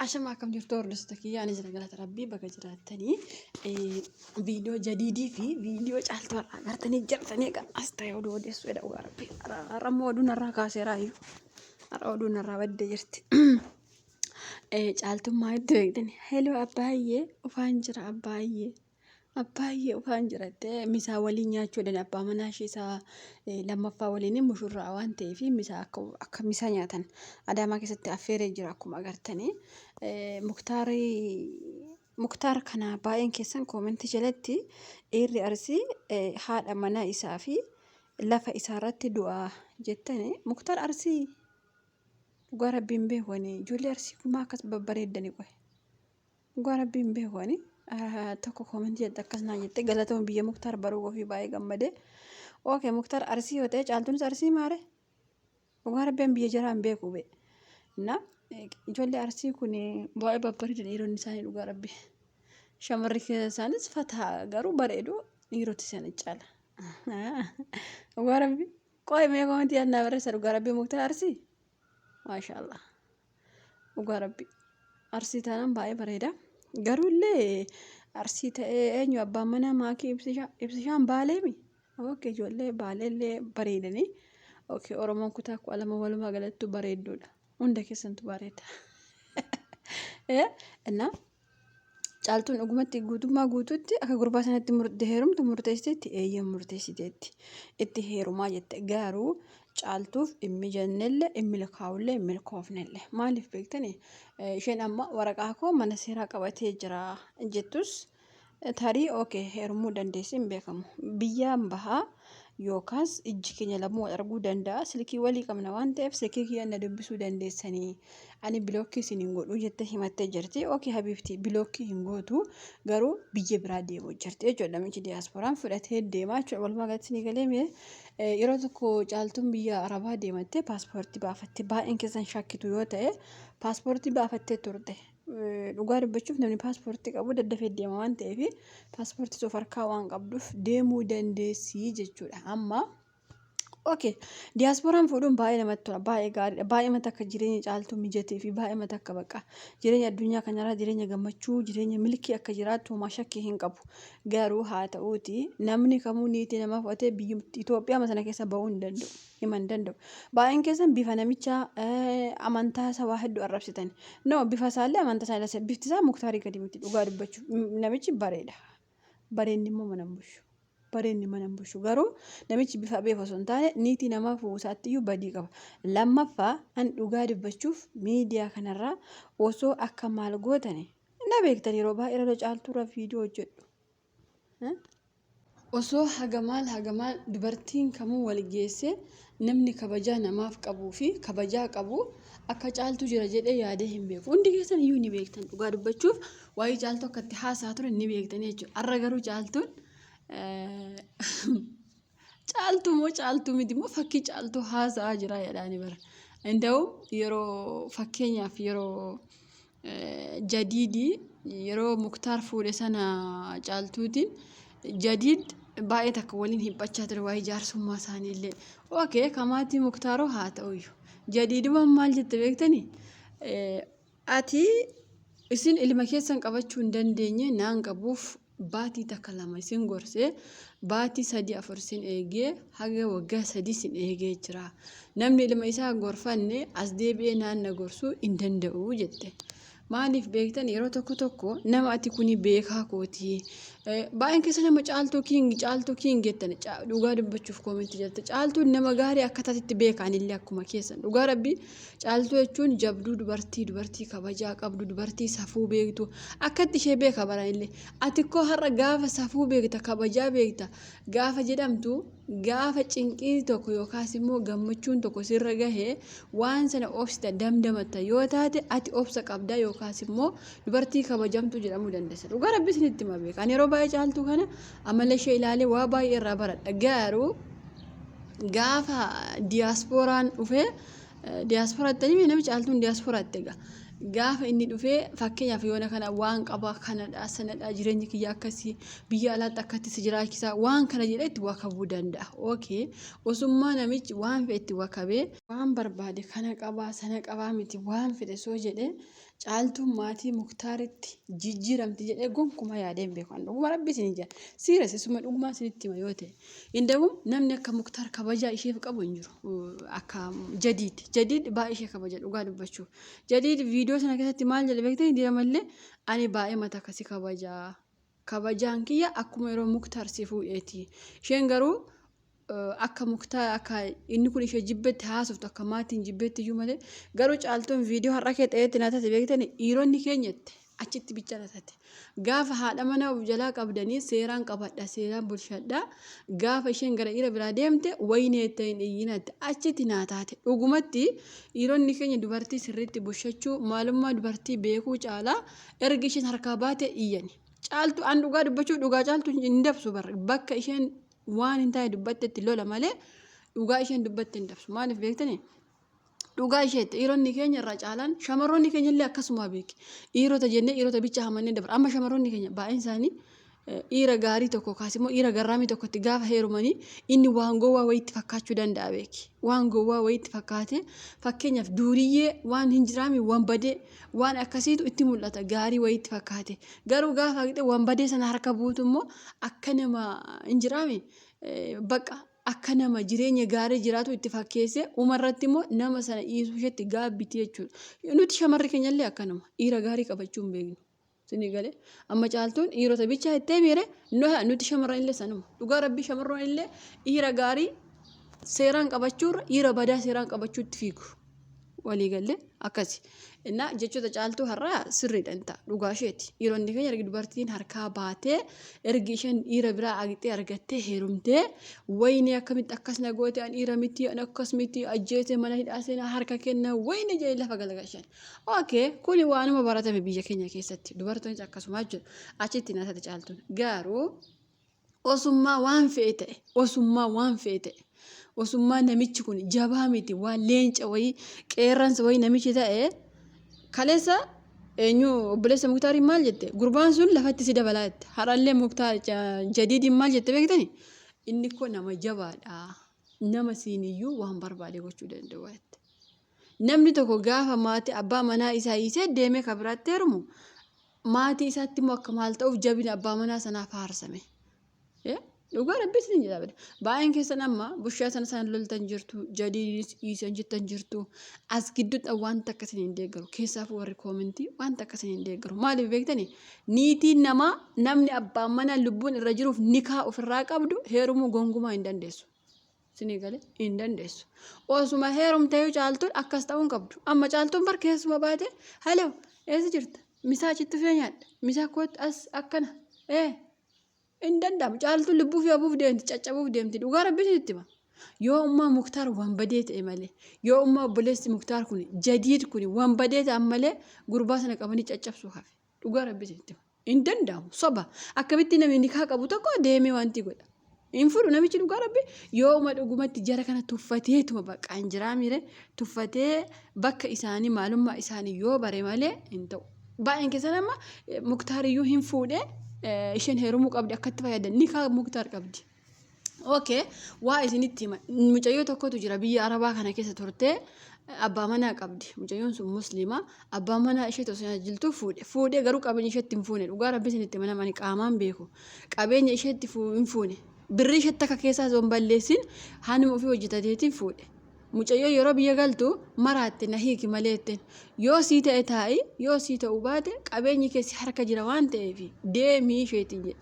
Ashama akkam jirtu hordoftoota kiyya ani jira galata rabbii baga jiraattanii viidiyoo jadiidii fi viidiyoo caaltuu har'aa gartanii jirtanii egaa as ta'e oduu odeessuu jedha dhugaa rabbii har'a immoo oduu narraa kaaseeraa iyyuu har'a oduu narraa badde jirti caaltummaa itti beektan heloo abbaayyee ufaan jira abbaayyee Abbaa ishee ufaan jirattee misaa waliin nyaachuu dhan abbaa manaa ishee isaa eh, lammaffaa waliin mushurraa waan ta'eef misaa akka, akka misaa nyaatan adaamaa keessatti affeeree jira akkuma agartanii eh, muktaari muktaar kana baay'een keessan koomentii jalatti dhiirri arsii eh, haadha manaa isaa fi lafa isaa irratti du'a jettani muktaar arsii dhugaa rabbiin beekwanii ijoollee arsii kumaa akkas babbareeddani qoye Dhugaa rabbii hin beeku ani. Ah, Tokko koomentii jette akkas naan jette galatoon biyya muktaar baruu ofii baay'ee gammadee. Ookee muktaar arsii yoo ta'e caaltuunis arsii maare. Dhugaa rabbii an biyya jaraa hin beeku bee. Na eh, ijoollee arsii kun baay'ee babbareedu dhiironni isaanii dhugaa rabbii. Shamarri isaanis fataa garuu bareedu dhiiroti isaanii caala. Dhugaa rabbii. Qo'ee mee koomentii yaadnaa barreessa dhugaa rabbii muktaar arsii. Maashaallah. Dhugaa rabbi. Arsii taanaan baay'ee bareeda. Garuu illee arsii ta'ee eenyu abbaan manaa maakii ibsishaa ibsishaan baaleemi. Ookee ijoollee baalee illee bareedanii. Ookee Oromoon kutaa kudha lama walumaa galattu bareedduudha. Hunda keessantu bareeda. Eh, Innaa Caaltuun dhugumatti guutummaa guutuutti akka gurbaa sanatti murte heerumtu murteessiteetti eeyyan murteessiteetti itti heerumaa jette garuu caaltuuf dhimmi jennelle hin milkaa'ullee hin milkoofnelle maaliif beektani isheen amma waraqaa koo mana seeraa qabatee jira jettus Tarii ok heerumuu dandeessee hin beekamu. Biyyaan bahaa yookaas ijji keenya lamuu wal arguu danda'a. Silkii walii qabna waan ta'eef silkii kiyya na dubbisuu dandeessanii. Ani bilookkii isin hin godhuu jettee himattee jirti. Ok habiibti bilookkii hin gootu garuu biyya biraa deemuu jirti jechuudha. Namichi diyaaspooraan fudhatee deemaa jechuudha. Walumaa galatti ni galee mee eh, yeroo tokko caaltuun biyya arabaa deemattee paaspoortii baafatte. Baay'een keessan shakkitu yoo ta'e paaspoortii baafattee turte. Dhugaa dubbachuuf namni paaspoortii qabu daddafee deema waan ta'eef paaspoortii of harkaa waan qabduuf deemuu dandeessii jechuudha. Amma okay diyaaspooraan fuudhuun baay'ee namatti tola baay'ee gaariidha baay'ee mata akka jireenya caaltuu mijatee fi baay'ee mata akka baqa jireenya addunyaa kanarraa jireenya gammachuu jireenya milkii akka jiraattu homaa shakkii hin qabu. Garuu haa ta'uuti namni kamuu niitii namaa fudhatee biyya Itoophiyaa sana keessa bahuu hin danda'u. hima hin danda'u. Baay'een keessan bifa namichaa eh, amantaa isaa waa hedduu arrabsitan. No bifa isaallee amantaa isaa ilaalcha bifti isaa muktaarii gadi miti dhugaa dubbachuu. M- Namichi bareeda. Bareenni immoo mana hin bushu. Bareenni mana hin bushu. Garuu namichi bifa beef osoo hin taane niitii namaa fuudhuu isaatti iyyuu badii qaba. Lammaffaa an dhugaa dubbachuuf miidiyaa kanarraa osoo akka maal gootani na beektan yeroo baay'ee irra caaltuurra viidiyoo hojjedhu. Osoo haga maal haga maal dubartiin kamuu wal geessee namni kabajaa namaaf qabuu fi kabajaa qabu akka caaltuu jira jedhee yaadee hin beeku. Hundi keessan iyyuu ni beektan dhugaa dubbachuuf waa'ee caaltuu akka itti haasaa ture ni beektan jechuudha. Har'a garuu caaltuun Caaltuu moo caaltuu miti moo fakkii caaltuu haasa'aa jira jedhaani bara. Inda'u yeroo fakkeenyaaf yeroo eh, jadiidii yeroo muktaar fuudhe sana caaltuutiin jadiid baay'ee takka waliin hiphachaa ture waa'ee jaarsummaa isaanii illee. Ookee kamaatii muktaaroo haa ta'uyyu. Jadiidumaan maal jette beektanii? Eh, Ati isin ilma keessan qabachuu hin dandeenye naan qabuuf baatii takka lama isin gorse baatii sadii afur isin eegee haga waggaa sadii isin eegee jira namni ilma isaa gorfanne as deebi'ee naan na gorsuu hin danda'u jette maaliif beektan yeroo tokko tokko nama ati kuni beekaa kootii baay'een keessa nama caaltuu kiingi caaltuu kiingi jettan dhugaa dubbachuuf koomentii jette caaltuun nama gaarii akka taatitti beekaanillee akkuma keessan dhugaa rabbii Caaltuu jechuun jabduu dubartii, dubartii kabajaa qabdu, dubartii safuu beektu. Akkatti ishee beeka baranillee. Ati koo har'a gaafa safuu beekta, kabajaa beekta, gaafa jedhamtu, gaafa cinqiin tokko yookaas immoo gammachuun tokko sirra gahe waan sana obsita, damdamatta yoo taate ati obsa qabda yookaas immoo dubartii kabajamtu jedhamuu dandeessa. Dhugaa rabbi isinitti hima beeka. Ani yeroo baay'ee caaltuu kana amala ishee ilaalee waa baay'ee irraa baradha. Garuu gaafa diyaaspooraan dhufee diyaaspoora itti himee nama caaltuun diyaaspoora itti egaa. Gaafa inni dhufee fakkeenyaaf yoona kana waan qaba kanadha sanadha jireenyi kiyya akkasii biyya alaatti akkatti si jiraachisaa waan kana jedhee itti wakabuu danda'a. Okay osummaa namichi waan fedhe itti wakabee waan barbaade kana qabaa sana qabaa miti waan fedhe soo jedhee Caaltuun maatii muktaaritti jijjiiramti jedhee gonkumaa yaadee hin beeku. Ani dhuguma rabbi isin ija. Siiras isuma dhugumaa isinitti hima yoo ta'e. Indawu namni akka muktaar kabajaa isheef qabu hin jiru. Akka jadiid. Jadiid baay'ee ishee kabaja dhugaa dubbachuu. Jadiid viidiyoo sana keessatti maal jedhe beektanii diramallee ani baay'ee mata akkasii kabajaa. Kabajaan kiyya akkuma yeroo Muktar si fuudheeti. Isheen garuu akka Muktar akka inni kun ishee jibbetti haasoftu akka maatiin jibbetti iyyuu malee garuu caaltuun viidiyoo har'a kee ta'etti na tate beektani dhiironni keenyatti achitti bicha na tate. Gaafa haadha mana of jalaa qabdanii seeraan qabadha seeraan bulshadha gaafa isheen gara dhiira biraa deemte wayinee itti hin iyyinaatti achitti naa taate dhugumatti dhiironni keenya dubartii sirriitti bushachuu maalummaa dubartii beekuu caalaa Erga isheen harkaa baate iyyani. Caaltu an dhugaa dubbachuu dhugaa caaltu hin dabsu bar bakka isheen waan hin taane dubbattetti lola malee dhugaa isheen dubbatte hin dabsu maaliif beektani dhugaa isheetti dhiironni keenya irraa caalaan shamarroonni keenya illee akkasuma beeki dhiirota jennee dhiirota bicha hamannee dabra amma shamarroonni keenya baay'een isaanii Dhiira gaarii tokko yookaas immoo dhiira garraamii tokkotti gaafa heerumanii inni waan gowwaa wayiitti fakkaachuu danda'a beeki. Waan gowwaa wayiitti fakkaatee fakkeenyaaf duuriyyee waan hin jiraamii waan badee waan akkasiitu itti mul'ata gaarii wayiitti fakkaate. Garuu gaafa haqxee waan badee sana harka buutu immoo akka nama hin jiraamii baqa akka nama jireenya gaarii jiraatu itti fakkeessee umarratti immoo nama sana dhiisuu isheetti gaabbiti jechuudha. Nuti shamarri keenyallee akkanuma dhiira gaarii qabachuu hin beeknu. Sini gale amma caaltuun dhiirota bichaa ittee miire nuti shamarran illee sanuma dhugaa rabbii shamarroon illee dhiira gaarii seeraan qabachuurra dhiira badaa seeraan qabachuutti fiigu walii galle akkasi innaa jechoota caaltuu har'aa sirriidhaan ta'a dhugaa isheeti dhiironni keenya ergi dubartiin harkaa baatee ergi isheen dhiira biraa agixee argattee heerumtee wayinii akkamitti akkas na goote an dhiira miti an akkas miti ajjeese mana hidhaa seenaa harka kenna wayinii jedhee lafa galagashan Okay, kuni waanuma baratame biyya keenya keessatti dubartoonis akkasumaa jiru achitti naasati caaltuun garuu osummaa waan fe'e ta'e osummaa waan fe'e ta'e osummaa namichi kun jabaa miti waan leenca wayii qeerransa wayii namichi ta'e kaleessa eenyu obboleessa muktaariin maal jette gurbaan sun lafatti si dabalaa jette har'allee muktaar jadiidiin maal jette beektani inni koo nama jabaadha nama siiniyyuu waan barbaade gochuu danda'u jette. Namni tokko gaafa maati abbaa manaa isaa hiisee deemee ka biraatti heerumu maatii isaatti immoo akka maal ta'uuf jabina abbaa manaa sanaa faarsame. Dhugaa rabbii isin jedha bada. Baay'een keessan amma bushaa sana sana loltan jirtu jadiinis dhiisan jettan jirtu as gidduudhaan wanta akka isin hin deeggaru keessaafuu warri koomentii wanta akka isin hin deeggaru maaliif beektani niitiin namaa namni abbaan manaa lubbuun irra jiruuf nikaa ofirraa qabdu heerumuu gongumaa hin dandeessu. Isinii gale hin dandeessu. Osuma heerumteeyyuu caaltuun akkas ta'uu hin qabdu. Amma caaltuun bar keessuma baate halo eessa jirta? Misaa achitti fee nyaadha. Misaa kootti as akkana. Ee hin danda'amu. Caaltuun lubbuu fi obuuf deemti caccabuuf deemti dhugaa rabbi isinitti hima. Yoo ummaa muktaar waan badee ta'e malee yoo ummaa obboleessi muktaar kun jadiid kun waan badee ta'an malee gurbaa sana qabanii caccabsuu hafe. Dhugaa rabbi isinitti hima. Hin danda'amu soba. Akkamitti namni nikaa qabu tokko deemee wanti godha. Hin fudhu namichi dhugaa rabbi yooma dhugumatti jara kana tuffateetuma bakka hin jiraa miire tuffatee bakka isaanii maalummaa isaanii yoo bare malee hin ta'u. Baay'een keessan amma muktaariyyuu hin fuudhee isheen heerumuu qabdi akkatti fayyadan nikaa muktaar qabdi. Okay, waa isinitti hima. Mucayyoo tokkotu jira biyya Arabaa kana keessa turtee abbaa manaa qabdi. Mucayyoon sun musliima. Abbaa manaa ishee osoo tajaajiltu fuudhe. Fuudhee garuu qabeenya isheetti hin fuune. Dhugaa rabbi isinitti hima namani qaamaan beeku. Qabeenya isheetti fuu- hin fuune. Birrii isheetti akka keessaa osoo hin balleessin hanuma ofii hojjetateetiin fuudhe. Mucayyoo yeroo biyya galtu maraatte na hiiki malee jetteen. Yoo sii ta'e taa'i, yoo sii ta'uu baate qabeenyi kee si harka jira waan ta'eef deemii isheetiin jedhe.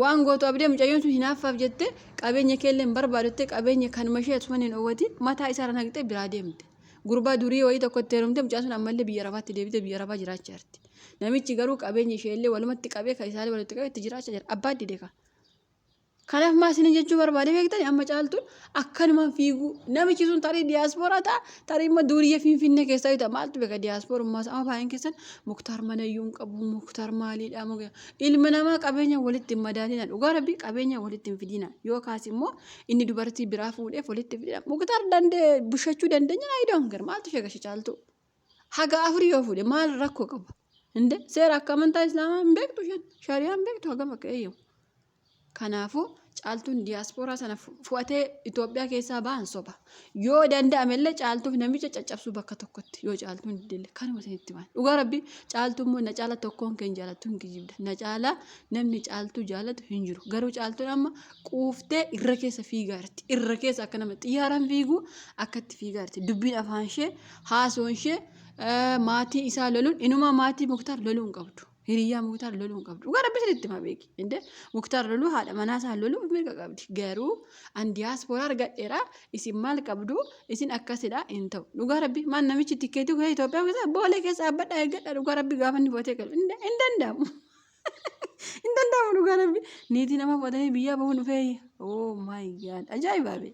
Waan gootu abdee mucayyoon sun hinaaffaaf jettee qabeenya keellee hin barbaadu jettee qabeenya kanuma ishee osuma hin owatiin mataa isaarra naqxee biraa deemte. Gurbaa durii wayii tokko itti heerumtee mucaan sun ammallee biyya arabaatti deebitee biyya arabaa jiraachaa jirti. Namichi garuu qabeenya isheellee walumatti qabee kan isaallee walitti qabee itti jiraachaa jira. Abbaan dide kaa. Kanaaf maa isiniin jechuu barbaade beektani amma caaltuun akkanumaan fiiguu namichi sun tarii diyaaspooraa ta'a tarii immoo duuriyyee finfinnee keessaa yoo ta'a maaltu beeka diyaasporummaa isaa amma baay'een keessan muktaar manayyuu hin qabu muktaar maaliidha muktaar ilma namaa qabeenya walitti hin madaalina dhugaa rabbii qabeenya walitti hin fidina yoo kaas immoo inni dubartii biraa fuudheef walitti fidina muktaar dandee bushachuu dandeenya naa idoon gar maaltu sheegashe caaltuu. haga afur yoo fuudhe maal rakkoo qaba inde seera akka amantaa islaamaa hin beektu shan shari'aa hin beektu hagam akka eeyyamu kanaafuu caaltuun diyaaspooraa sana fu- fu'atee Itoophiyaa keessaa ba'an soba yoo danda'ame illee caaltuuf namicha caccabsuu bakka tokkotti yoo caaltuun didille kanuma isinitti himan dhugaa rabbi caaltuu immoo na caala tokkoon keen jaalattu hin kijibda na caala namni caaltuu jaalatu hin jiru garuu caaltuun amma quuftee irra keessa fiigaarti irra keessa akka nama xiyyaaraan fiiguu akkatti fiigaarti dubbiin afaan ishee haasuun ishee maatii isaa loluun inumaa maatii muktaar loluu hin qabdu. Hiriyaa muktaar loluu hin qabdu. Dhugaa rabbi sirriitti ma beeki. Inde muktaar loluu haadha manaa isaa loluu mirga qabdi. Garuu an diyaaspooraa argadheera isin maal qabdu isin akkasidha hin ta'u. Dhugaa rabbi maal namichi tikkeetii kee Itoophiyaa keessa boolee keessa dhaabbadha eeggadha dhugaa rabbi gaafa inni bootee galu hin danda'amu. Hin danda'amu dhugaa rabbi niitii nama fudhatanii biyyaa bahuun dhufee. Oh my god ajaa'iba bee.